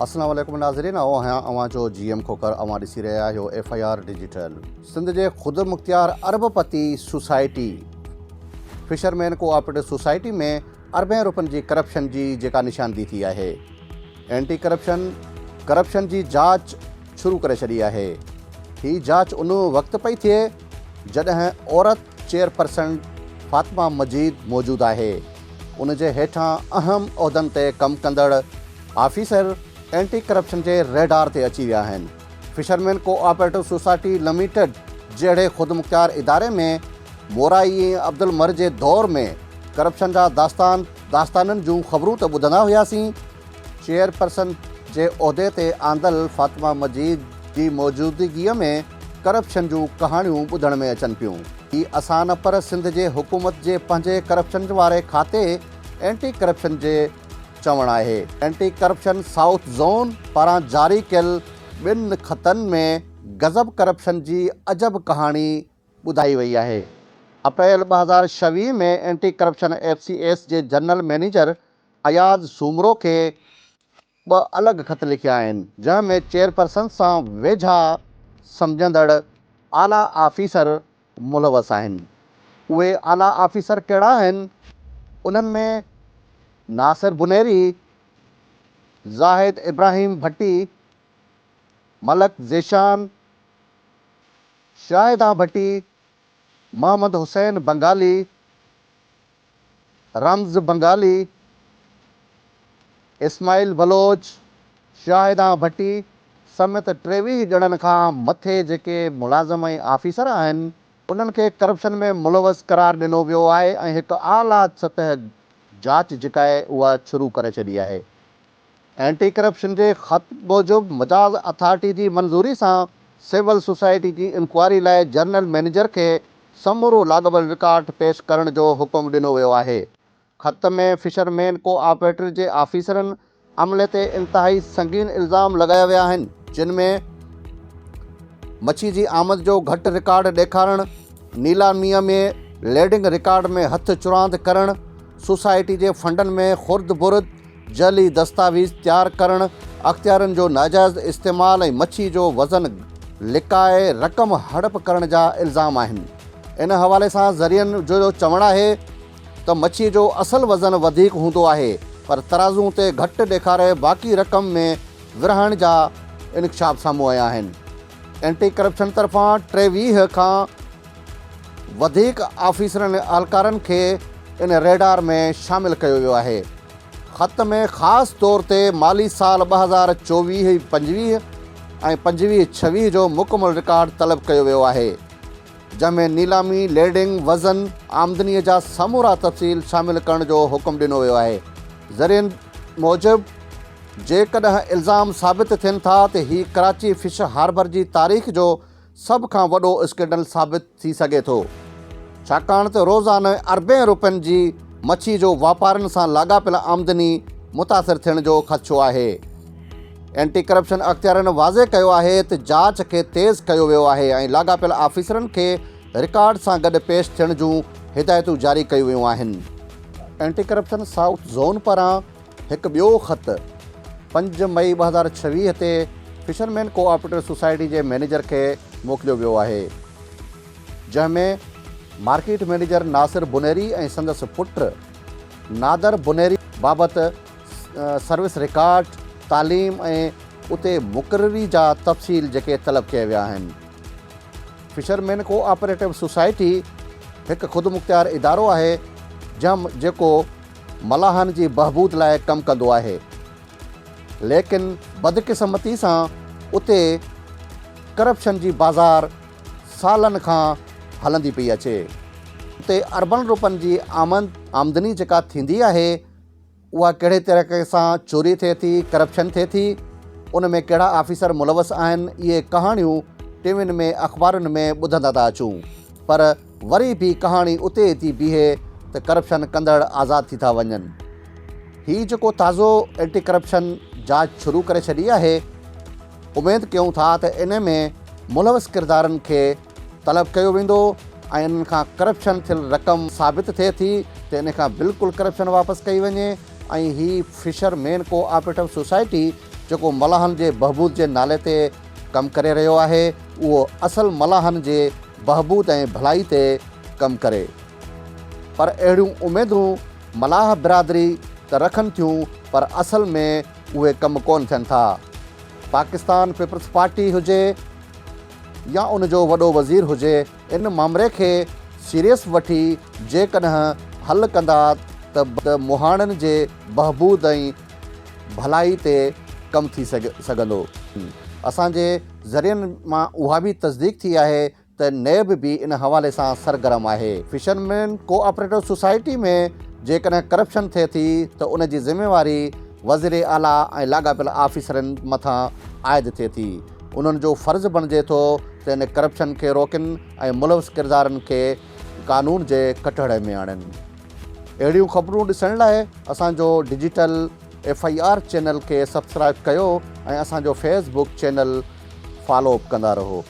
السلام عليڪم ناظرين آئون آهيان اوهان جو جي ايم کوکر اوهان ڏسي رهيا آهيو F I R digital Sindh جي خود مختيار ارب پتي سوسائٽي فشرمين ڪوآپريٽو سوسائٽي ۾ اربين روپين جي ڪرپشن جي جيڪا نشاندهي ٿي آهي اينٽي ڪرپشن ڪرپشن جي جاچ شروع ڪري ڇڏي آهي هي جاچ ان وقت پئي ٿئي جڏهن عورت چيئرپرسن فاطمه مجيد موجود آهي، ان جي هيٺان اهم عهدن تي ڪم ڪندڙ آفيسر اينٽي ڪرپشن جي ريڊار تي اچي ويا آهن، fishermen cooperative society limited جهڙي خودمختيار اداري ۾ مورائي ۽ عبدالمر جي دور ۾ ڪرپشن جا داستان داستانن جون خبرون ته ٻڌندا هياسين، چيئرپرسن جي عهدي تي آندل فاطمه مجيد جي موجودگيء ۾ ڪرپشن جون ڪهاڻيون ٻڌڻ ۾ اچن پيون. هي اسان نه پر سنڌ جي حڪومت جي پنهنجي ڪرپشن واري کاتي اينٽي ڪرپشن جي چوڻ آهي. اينٽي ڪرپشن سائوٿ زون پاران جاري ڪيل ٻن خطن ۾ گذب ڪرپشن جي عجب ڪهاڻي ٻڌائي وئي آهي. اپريل ٻه هزار ڇويهه ۾ anti corruption F C S جي جنرل مئنيجر اياز سومرو کي ٻه الڳ خط لکيا آهن، جنهن ۾ چيئرپرسن سان ويجها سمجهندڙ اعليٰ آفيسر ملوث آهن. اهي اعليٰ آفيسر ڪهڙا آهن؟ انهن ۾ ناصر بنيري، زاهد ابراهيم ڀٽي، ملڪ ذيشان، شاهدان ڀٽي، محمد حسين بنگالي، رمز بنگالي، اسماعيل بلوچ، شاهدان ڀٽي سميت ٽيويهه ڄڻن کان مٿي جيڪي ملازم ۽ آفيسر آهن انهن کي ڪرپشن ۾ ملوث قرار ڏنو ويو آهي ۽ هڪ اعليٰ سطح جاچ جيڪا آهي اها شروع ڪري ڇڏي آهي. اينٽي ڪرپشن جي خط موجب مجاز اٿارٽي جي منظوري سان سول سوسائٽي جي انڪوائري لاء جنرل مئنيجر کي سمورو لاڳاپيل رڪارڊ پيش ڪرڻ جو حڪم ڏنو ويو آهي. خط ۾ فشر مين ڪو آپريٽر جي آفيسرن عملي تي انتهائي سنگين الزام لڳايا ويا آهن جن ۾ مڇي جي آمد جو گهٽ رڪارڊ ڏيکارڻ، نيلاميء ۾ ليڊنگ رڪارڊ ۾ هٿ چراند ڪرڻ، سوسائٽي جي فنڊن ۾ خرد برد، جعلي دستاويز تيار ڪرڻ، اختيارين جو ناجائز استعمال ۽ مڇي جو وزن لڪائي رقم هڙپ ڪرڻ جا الزام آهن. ان حوالي سان ذريعن جو چوڻ آهي ته مڇي جو اصل وزن وڌيڪ هوندو آهي پر ترازو تي گهٽ ڏيکاري باقي رقم ۾ ورهائڻ جا انڪشاف سامهون آيا آهن. اينٽي ڪرپشن طرفان ٽيويهه کان وڌيڪ آفيسرن ۽ اهلڪارن کي ان ريڊار ۾ شامل ڪيو ويو آهي. خط ۾ خاص طور تي مالي سال ٻه هزار چوويهه پنجويهه ۽ پنجويهه ڇويهه جو مڪمل رڪارڊ طلب ڪيو ويو آهي. جنهن ۾ نيلامي، ليڊنگ، وزن، آمدنيء جا سمورا تفصيل شامل ڪرڻ جو حڪم ڏنو ويو آهي. ذريعن موجب، جيڪڏهن الزام ثابت ٿين ٿا ته هي ڪراچي فش هاربر جي تاريخ جو سڀ کان وڏو اسڪينڊل ثابت ٿي سگهي ٿو، ڇاڪاڻ ته روزانه اربين روپين جي مڇي جو واپارين سان لاڳاپيل آمدني متاثر ٿيڻ جو خدشو آهي. اينٽي ڪرپشن اختيارين واضح ڪيو آهي ته جاچ کي تيز ڪيو ويو آهي ۽ لاڳاپيل آفيسرن کي رڪارڊ سان گڏ پيش ٿيڻ جون هدايتون جاري ڪيون ويون آهن. اينٽي ڪرپشن سائوٿ زون پاران هڪ ٻيو خط پنج مئي ٻه هزار ڇويهه تي fishermen cooperative society جي مئنيجر کي موڪليو ويو آهي جنهن ۾ مارڪيٽ مئنيجر ناصر بونيري ۽ سندس پٽ نادر بونيري بابت سروس رڪارڊ، تعليم ۽ اتي مقرري جا تفصيل جيڪي طلب ڪيا ويا آهن. Fishermen cooperative society هڪ خودمختيار ادارو آهي جم جيڪو ملاحن جي بهبود لاء ڪم ڪندو آهي ليڪن بدقسمتي سان اتي ڪرپشن جي بازار سالن کان هلندي پئي اچي. اتي اربن روپن جي آمدني جيڪا ٿيندي آهي اها ڪهڙي طريقي سان چوري ٿئي ٿي، ڪرپشن ٿئي ٿي، ان ۾ ڪهڙا آفيسر ملوث آهن، اهي ڪهاڻيون ٽي وين ۾ اخبارن ۾ ٻڌندا ٿا اچون پر وري به ڪهاڻي اتي ئي ٿي بيهي ته ڪرپشن ڪندڙ آزاد ٿي ٿا وڃن. هي جيڪو تازو اينٽي ڪرپشن جاچ شروع ڪري ڇڏي آهي، اميد ڪيون ٿا ته ان ۾ ملوث ڪردارن کي طلب ڪيو ويندو ۽ انهن کان ڪرپشن ٿيل رقم ثابت ٿئي ٿي ته انهي کان بلڪل ڪرپشن واپس ڪئي وڃي ۽ هي fishermen cooperative society جيڪو ملاحن جي بهبود جي نالي تي ڪم ڪري رهيو آهي اهو اصل ملاحن جي بهبود ۽ ڀلائي تي ڪم ڪري پر اهڙيون اميدون ملاح برادري ته رکن ٿيون پر اصل ۾ اهي ڪم ڪون ٿين ٿا پاڪستان پيپلز پارٽي هجي يا ان جو وڏو وزير هجي ان مامري کي سيريس وٺي جيڪڏهن حل ڪندا ته مهاڻن جي بهبود ۽ ڀلائي تي ڪم ٿي سگهندو. اسان جي ذريعن مان اها به تصديق ٿي آهي ته نيب به ان حوالي سان سرگرم آهي. فشرمين ڪو آپريٽو سوسائٽي ۾ جيڪڏهن ڪرپشن ٿئي ٿي ته ان جي ذميواري وزير اعليٰ ۽ لاڳاپيل آفيسرن مٿان عائد ٿئي ٿي. انهن جو فرض بڻجي ٿو ته ان ڪرپشن کي روڪن ۽ ملوث ڪردارن کي قانون جي ڪٽهڙي ۾ آڻين. اهڙيون خبرون ڏسڻ لاء اسان جو digital F I R channel کي سبسڪرائب ڪيو ۽ اسان جو فيس بوڪ چينل فالو به ڪندا رهو.